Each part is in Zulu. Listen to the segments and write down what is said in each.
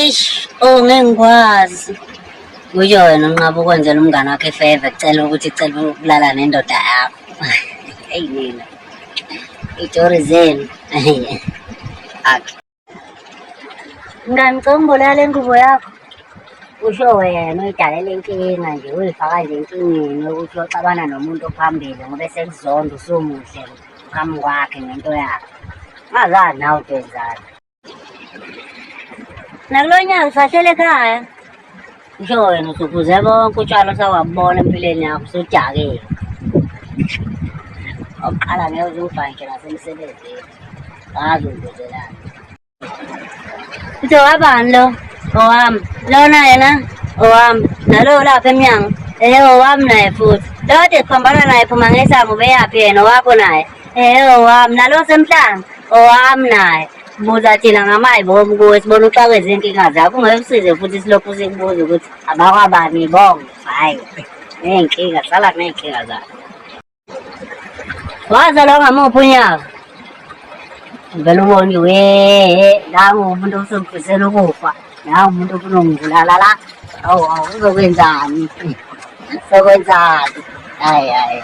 Eish, oh ngeke ngikwazi. Kusho wena unqaba ukwenzela umngane wakho ifeve kucela ukuthi cela ukulala nendoda yakho. Eyi mina. Itori zenu. Akhe. Mngani ngicela ungiboleka le ngubo yakho. Kusho wena uyidalela inkinga nje uyifaka nje enkingeni yokuthi uyoxabana nomuntu ophambili ngoba esekuzonda usumuhle phambi kwakhe ngento yakhe. Ungazani nawe utwenzani. Nakulo nyaka usahlele ekhaya. Ngisho wena usuphuze bonke utshwala osawabona empilweni yakho usudakile. Oqala ngeke uze ufa ngisho nasemsebenzini. Ngazi ubuzelani. Uthe wabani lo? Owami. Lona yena owami. Nalo lapha emnyango. Eh owami naye futhi. Lode siphambana naye phuma ngesango ubeyaphi yena owakho naye. Eh owami nalo semhlanga owami naye buza thina ngamayi bobu kuwe sibona uxakweza inkinga zakho ungeke usize futhi silokhu sikubuza ukuthi abakwabani bonke hayi ney'nkinga sala kuney'nkinga zakho wazalwa ngamuphi unyaka vele ubone we nangu umuntu osengifisela ukufa nangu umuntu ofuna ungibulala la awu awu uzokwenzani sokwenzani hayi hayi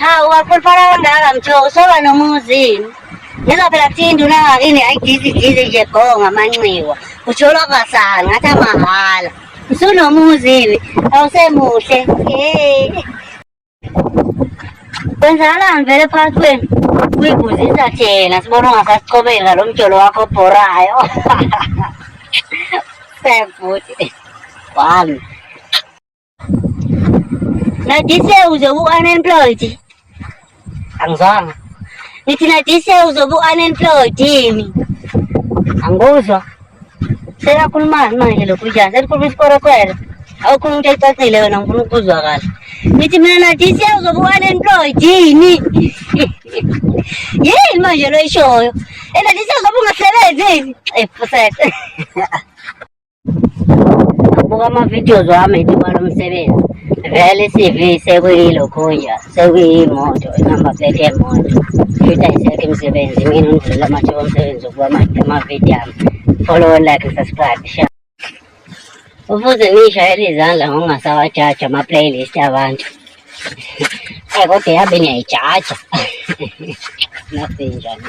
Hawu wakhuluphala kangaka mthobo soba nomuzi. Ngizwa phela kuthiwa induna yakini ayidizi dizi nje go ngamanxiwa. Ujolo kwasanga ngathi amahhala. Usunomuzi-ke awusemuhle. Hey. Kwenzakalani vele phakathi kwenu? Uyiguzisa thina sibona ungasasichobeli ngalo mjolo wakho obhorayo. Sebhuti. Wami. Nadise uzobuka unemployed. Angizwanga. Ngithi nadise uzobuka unemployed yini? Angikuzwa. Sekakhulumani manje lokhu njani? Selikhuluma isikorokwela. Awukhuluma into ecacile wena ngifuna ukuzwa kahle. Ngithi mina nadise uzobuka unemployed yini? Yini manje lo ishoyo? Ena nadise uzobuka ungasebenzi yini? Ephusethe. Buka ama-videos wami etibala umsebenzi vele i-CV sekuyilokhunja sekuyimoto inamba plate yemoto futhi ayisekho imisebenzi mina ngidlula amathuba omsebenzi ukuba ama-video ami follow like subscribe share ufuze ngiyishayele izandla ngokungasawajaja ama-playlist abantu kodwa yabe niyayijaja nasinjani